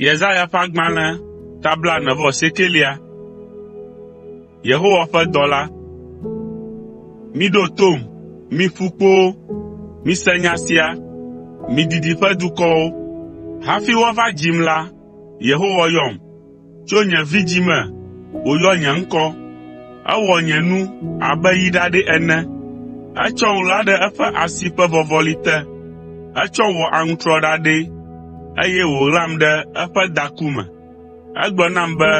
Yesaya ƒe agbalẽ ta blaene vɔ asiekelia. Yehowa ƒe dɔla. Miɖo tom, mi ƒukpowo, mise nya sia, mi didiƒe dukɔwo. Hafi woava dzim la, Yehowa yɔm. Tso nye vidzĩ me wòyɔ nye ŋkɔ. Ewɔ nye nu abe yi ɖaɖɛ ene. Etsɔm ɣla ɖe eƒe asi ƒe vɔvɔli te. Etsɔm wɔ aŋutrɔ ɖaɖɛ, eye wòɣlam ɖe eƒe daku me. Egblɔ nam be,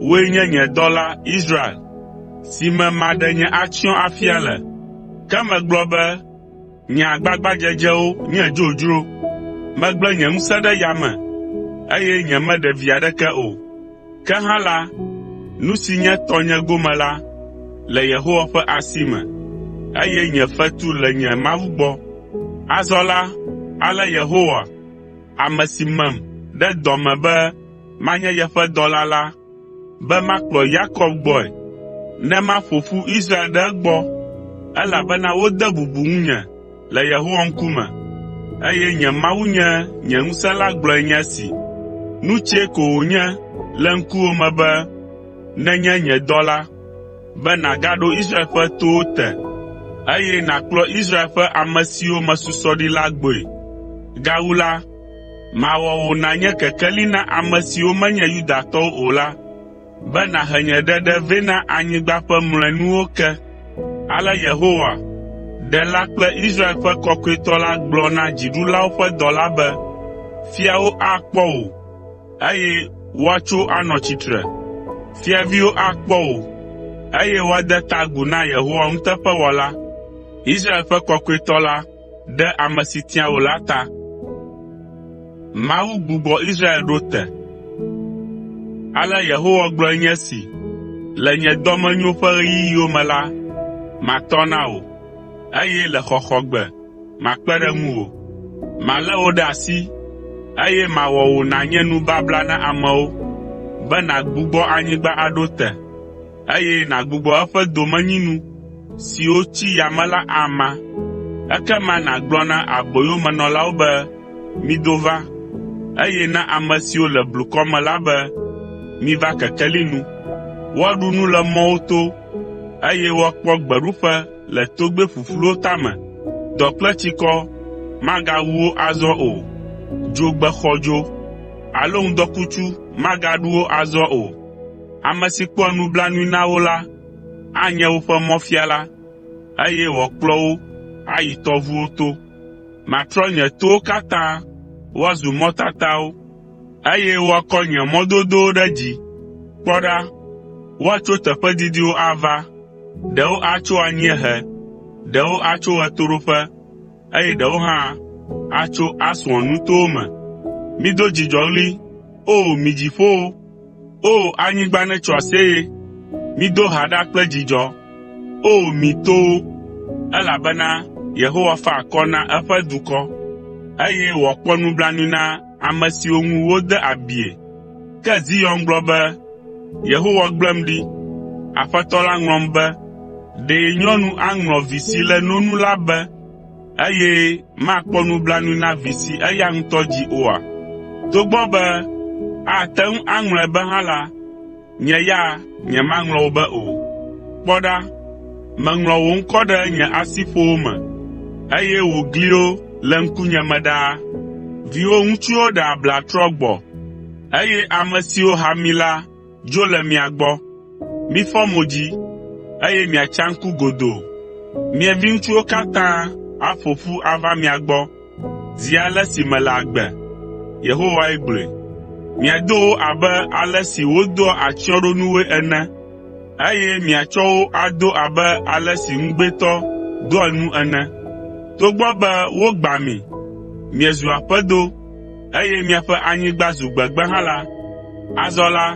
“Wòe nye nye dɔla, Israel, si me maɖe nye atsyɔ̃ afia le.” Ke megblɔ be, Nye agbagbadzedzewo nye dzodzro. Megble nye ŋusẽ ɖe yame, eye nyemeɖe vi aɖeke o. Ke hã la, nu si nye tɔnye gome la le Yehowa ƒe asi me, eye nye fetu le nye Mawu gbɔ. Azɔ la, ale Yehowa, ame si mem ɖe dɔ me be manye yeƒe dɔla la, be makplɔ Yakob gbɔe, ne maƒo ƒu Israel ɖe egbɔ, elabena wode bubu ŋunye le Yehowa ŋkume, eye nye Mawu nye nye ŋusẽ la gblɔe nye esi. Nu tsɛ ko wònye le ŋkuwò me be nènye nye dɔla, be nàgaɖo Israel ƒe towo te, eye nàkplɔ Israel ƒe ame siwo mesusɔ ɖi la gbɔe. Gawu la, Mawɔ wò nànye kekeli na ame siwo menye Yudatɔwo o la, be nàhe nye ɖeɖe vɛ na anyigba ƒe mlɔenuwo ke.” Ale Yehowa, Ɖela kple Israel ƒe Kɔkɔetɔ la gblɔ na dziɖulawo ƒe dɔla be, “Fiawo akpɔ wò, eye woatso anɔ tsitre. Fiaviwo akpɔ wò, eye woade ta agu na Yehowa nuteƒewɔla, Israel ƒe Kɔkɔetɔ la. ɖe ame si tia wò la ta. Mawu gbugbɔ Israel ɖo te. Ale Yehowa gblɔe nye esi, “Le nye dɔmenyo ƒe ɣeyiɣiwo me la, matɔ na wò, eye le xɔxɔgbe makpe ɖe ŋuwò. Malé wò ɖe asi, eye mawɔ wò nànye nubabla na amewo, be nàgbugbɔ anyigba aɖo te. eye nàgbugbɔ eƒe domenyinu siwo tsi yame la ama. Ekema nàgblɔ na aboyomenɔlawo be, ‘Mido va,’ eye na ame siwo le blukɔ me la be, ‘Miva kekeli nu.’ Woaɖu nu le mɔwo to, eye woakpɔ gbeɖuƒe le togbɛ ƒuƒluwo tame. Dɔ kple tsikɔ magawu wo azɔ o, dzogbe xɔdzo alo ŋdɔkutsu magaɖu wo azɔ o. Ame si kpɔa nublanui na wo la, anye woƒe mɔfiala, eye wòakplɔ wo ayi tɔʋuwo to. Matrɔ nye towo katã woazu mɔtatawo, eye woakɔ nye mɔdodowo ɖe dzi. Kpɔ ɖa, woatso teƒe didiwo ava, ɖewo atso anyiehe, ɖewo atso ɣetoɖoƒe. eye ɖewo hã atso Aswan nutowo me. Mido dzidzɔɣli, O mi dziƒowo! O anyigba netso aseye! Mido ha ɖa kple dzidzɔ, O mi towo! Elabena Yehowa fa akɔ na eƒe dukɔ, eye wòakpɔ nublanui na ame siwo ŋu wode abie. Ke Zion gblɔ be, “Yehowa gblẽm ɖi. Aƒetɔ la ŋlɔm be, ‘Ɖe nyɔnu aŋlɔ vi si le no nu la be, eye makpɔ nublanui na vi si eya ŋutɔ dzi oa? Togbɔ be ate ŋu aŋlɔe be hã la, Nye ya nyemaŋlɔ wò be o. Kpɔ ɖa, meŋlɔ wò ŋkɔ ɖe nye asiƒowo me, eye wò gliwo le ŋkunye me ɖaa. Viwò ŋutsuwo ɖe abla trɔ gbɔ, eye ame siwo ha mi la dzo le mia gbɔ. Mifɔ mo dzi, eye miatsa ŋku godoo. Mia viŋutsuwo katã aƒo ƒu ava mia gbɔ. Zi ale si mele agbe, Yehowae gblɔe. Miado wo abe ale si wodoa atsyɔ̃ɖonuwoe ene, eye miatsɔ wo ado abe ale si ŋugbetɔ doa nu ene. Togbɔ be wogbã mi, miezu aƒedo, eye miaƒe anyigba zu gbegbe hã la, azɔ la,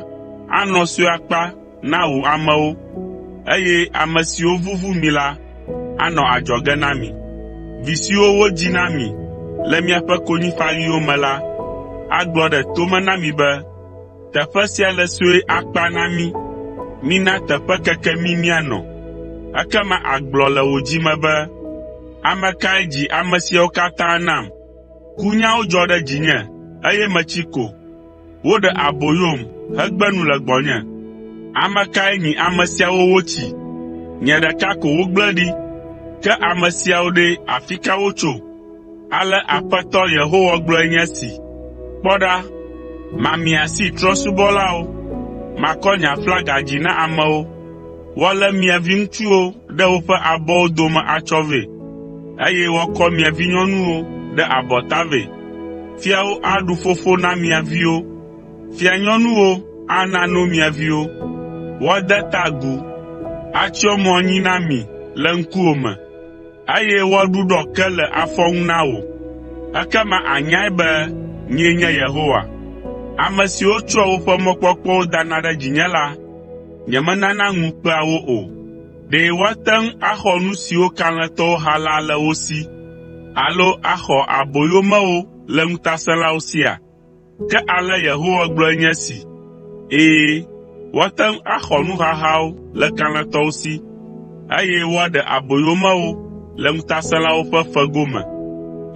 anɔ sue akpa na wò amewo, eye ame siwo vuvu mi la anɔ adzɔge na mi. Vi siwo wodzi na mi le miaƒe konyifaɣiwo me la agblɔ ɖe to me na mi be, ‘Teƒe sia le sue akpa na mí. Mina teƒe keke mí míanɔ.’ Ekema àgblɔ le wò dzi me be, ‘Ame kae dzi ame siawo katã nam? Kunyawo dzɔ ɖe dzinye, eye metsi ko.’ Woɖe aboyom hegbe nu le gbɔnye. Ame kae nyi ame siawo wotsi? Nye ɖeka ko wogble ɖi. Ke ame siawo ɖe, afi ka wotso?” Ale Aƒetɔ Yehowa gblɔe nye esi. “Kpɔ ɖa, mamia asi trɔ̃subɔlawo. Makɔ nye aflaga dzi na amewo. Woalé mia viŋutsuwo ɖe woƒe abɔwo dome atsɔ vɛ, eye woakɔ mia vinyɔnuwo ɖe abɔta vɛ. Fiawo aɖu fofo na mia viwo, fianyɔnuwo ana no mia viwo. Woade ta agu, atsyɔ mo anyi na mi le ŋkuwò me, eye woaɖuɖɔ ke le afɔ nu na wò. Ekema ànyae be nyee nye Yehowa. Ame siwo tsɔa woƒe mɔkpɔkpɔwo dana ɖe dzinye la, nyemenana ŋu kpea wo o. Ɖe woate ŋu axɔ nu siwo kalẽtɔwo ha la le wo si alo axɔ aboyomewo le ŋutasẽlawo sia? Ke ale Yehowa gblɔe nye esi, “Ɛ̃, woate ŋu axɔ nuhahawo le kalẽtɔwo si, eye woaɖe aboyomewo le ŋutasẽlawo ƒe fego me.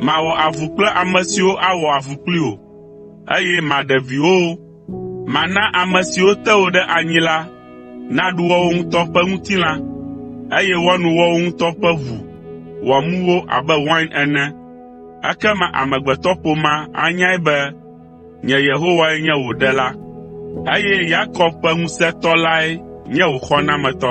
Mawɔ avu kple ame siwo awɔ avu kpli wò, eye maɖe viwòwo Mana ame siwo te wò ɖe anyi la naɖu woawo ŋutɔ ƒe ŋutilã, eye woano woawo ŋutɔ ƒe ʋu wòamu wo abe wain ene. Ekema amegbetɔƒomea anyae be nye Yehowae nye wò Ɖela, eye Yakob ƒe Ŋusẽtɔ lae nye wò Xɔnametɔ.”